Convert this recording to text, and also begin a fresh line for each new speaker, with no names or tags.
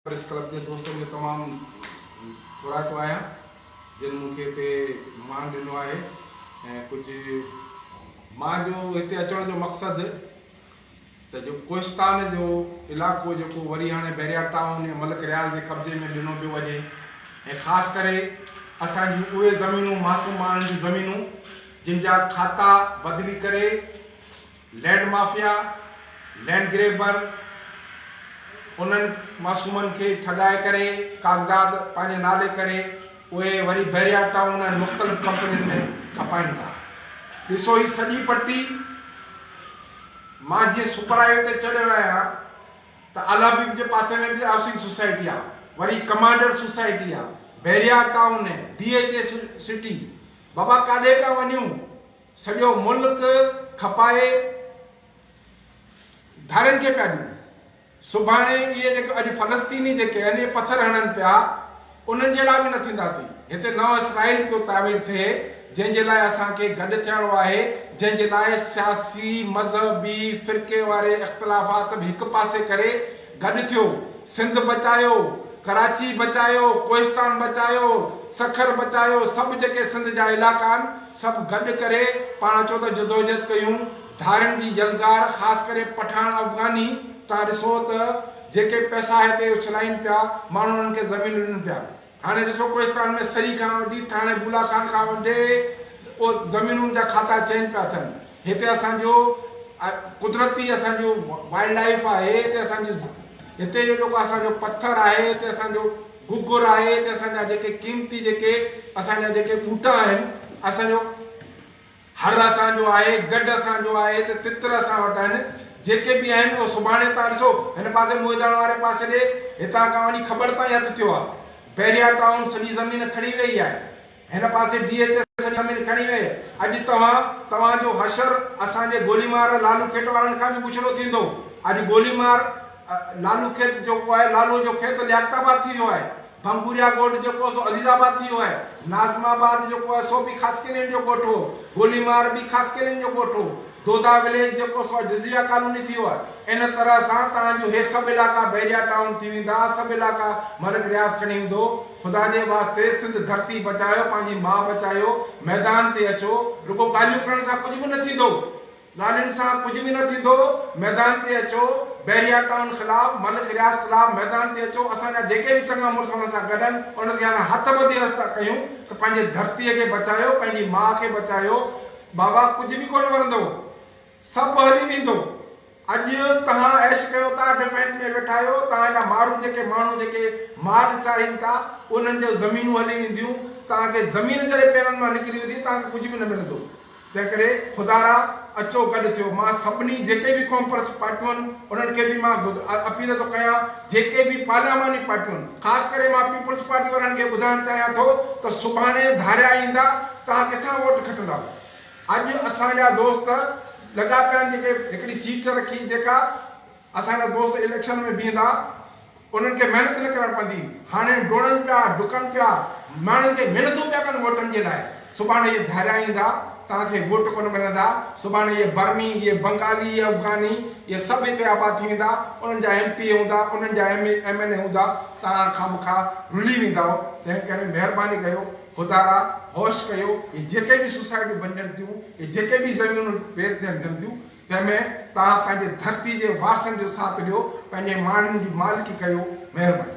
Press club جي دوستن جو تمام ٿورائتو آهيان جن مون کي هتي مان ڏنو آهي ۽ ڪجهه مان جو هتي اچڻ جو مقصد ته جو ڪوهستان جو علاقو جيڪو وري هاڻي بحريا ٽائون يا ملڪ رياض جي قبضي ۾ ڏنو پيو وڃي ۽ خاص ڪري اسان جون اهي زمينون معصوم ماڻهن جون زمينون جن جا کاتا بدلي ڪري لينڊ مافيا، لينڊ گريبر، انهن معصومن کي ٺڳائي ڪري ڪاغذات پنهنجي نالي ڪري اهي وري بحريا ٽائون ۽ مختلف ڪمپنين ۾ کپائين ٿا. ڏسو هي سڄي پٽي مان جيئن سپر هاء وي تي چڙهيو آهيان ته الحبيب جي پاسي ۾ به هائوسنگ سوسائٽي آهي، وري ڪمانڊر سوسائٽي آهي، Bahria town, D H A city, بابا ڪاڏي پيا وڃون؟ سڄو ملڪ کپائي ڌارين کي پيا ڏيون. سڀاڻي اهي جيڪي اڄ فلسطيني جيڪي آهن اهي پٿر هڻن پيا انهن جهڙا به نه ٿينداسين. هتي نئون اسرائيل پيو تعمير ٿئي جنهن جي لاء اسان کي گڏ ٿيڻو آهي جنهن جي لاء سياسي، مذهبي، فرقي واري اختلافات به هڪ پاسي ڪري، گڏ ٿيو، سنڌ بچايو، ڪراچي بچايو، ڪوهستان بچايو، سکر بچايو، سڀ جيڪي سنڌ جا علائقا آهن، سڀ گڏ ڪري پاڻ اچو ته جدوجهد ڪيون، ڌارين جي يلغار خاص ڪري پٺاڻ افغاني تان ڏسو ته جيڪي پئسا هتي اڇلائين پيا، ماڻهو انهن کي زمينون ڏين پيا. هاڻي ڏسو ڪوهستان ۾ سري کان وٺي ٿاڻي بولا خان کان وڍي زمينن جا کاتا چينج پيا ٿين هتي اسان جو قدرتي اسان جو وائلڊ لائف آهي هتي اسان جي هتي جو جيڪو اسان جو پٿر آهي هتي اسان جو گگر آهي هتي اسان جا جيڪي قيمتي جيڪي اسان جا جيڪي ٻوٽا آهن اسان جو هر اسان جو آهي، گڊ اسان جو آهي ته تتر اسان وٽ آهن، جيڪي به آهن اهو سڀاڻي ٿا ڏسو، هن پاسي موئيداڻ واري پاسي ڏي، هتان کان وڃي کٻڙ تائين هٿ ٿيو آهي. بحريا ٽائون سڄي زمين کڻي ويئي آهي. هن پاسي ڊي ايڇ ايس سڄي زمين کڻي ويئي. اڄ توهان، توهان جو حشر اسان جي گولي مار لالو کيت وارن کان به بڇڙو ٿيندو. اڄ گولي مار لالو کيت جيڪو آهي، لالوء جو کيت لياقت آباد ٿي ويو آهي. پنگوريا ڳوٺ جيڪو سو عزيز آباد ٿي ويو آهي. ناظم آباد جيڪو آهي سو به خاصخيلين جو ڳوٺ هو. گولي مار به خاصخيلين جو ڳوٺ هو. دودا وليج جيڪو سو جزيره ڪالوني ٿي ويو آهي. ان طرح سان توهان جون هي سڀ علائقا بحريا ٽائون ٿي ويندا. سڀ علائقا ملڪ رياض کڻي ويندو. خدا جي واسطي سنڌ ڌرتي بچايو پنهنجي ماء بچايو. ميدان تي اچو. رڳو ڳالهيون ڪرڻ سان ڪجهه به نه ٿيندو. ڳالهين سان ڪجهه به نه ٿيندو، ميدان تي اچو، بحريا ٽائون خلاف، ملخ رياض خلاف ميدان تي اچو، اسان جا جيڪي به چڱا مڙس انهن سان گڏ آهن، انهن کي اسان هٿ ٻڌي عرض ٿا ڪيون ته پنهنجي ڌرتيء کي بچايو، پنهنجي ماء کي بچايو، بابا ڪجهه به ڪونه ورندو، سڀ هلي ويندو، اڄ توهان عيش ڪيو ٿا، ڊفينس ۾ ويٺا آهيو، توهان جا مارون جيڪي ماڻهو جيڪي مال چارين ٿا، انهن جون زمينون هلي وينديون، توهان کي زمين جڏهن پيرن مان نڪري ويندي، توهان کي ڪجهه به نه ملندو. تنهنڪري خدا را اچو گڏ ٿيو. مان سڀني جيڪي به قوم پرست پارٽيون آهن انهن کي به مان گد اپيل ٿو ڪيان جيڪي به پارلياماني پارٽيون آهن خاص ڪري مان پيپلز پارٽي وارن کي ٻڌائڻ چاهيان ٿو ته سڀاڻي ڌاريا ايندا توهان ڪٿان ووٽ کٽندؤ اڄ اسان جا دوست لڳا پيا آهن جيڪي هڪڙي سيٽ رکي جيڪا اسان جا دوست اليڪشن ۾ بيهندا انهن کي محنت نه ڪرڻ پوندي، هاڻي ڊوڙن پيا، ڊڪن پيا، ماڻهن کي محنتون پيا ڪن ووٽن جي لاء، سڀاڻي اهي ڌاريا ايندا، توهان کي ووٽ ڪونه ملندا، سڀاڻي اهي برمي، اهي بنگالي، اهي افغاني، اهي سڀ هتي آباد ٿي ويندا، انهن جا ايم پي اي هوندا، انهن جا ايم ايم اين اي هوندا، توهان خامخا رلي ويندائو، تنهن ڪري مهرباني ڪيو، خدارا هوش ڪيو، اهي جيڪي به سوسائٽيون بنجن ٿيون، اهي جيڪي به زمينون ويرٿين ٿين ٿيون، جنهن ۾ توهان پنهنجي ڌرتي جي وارثن جو ساٿ ڏيو پنهنجي ماڻهن جي مالڪي ڪيو مهرباني.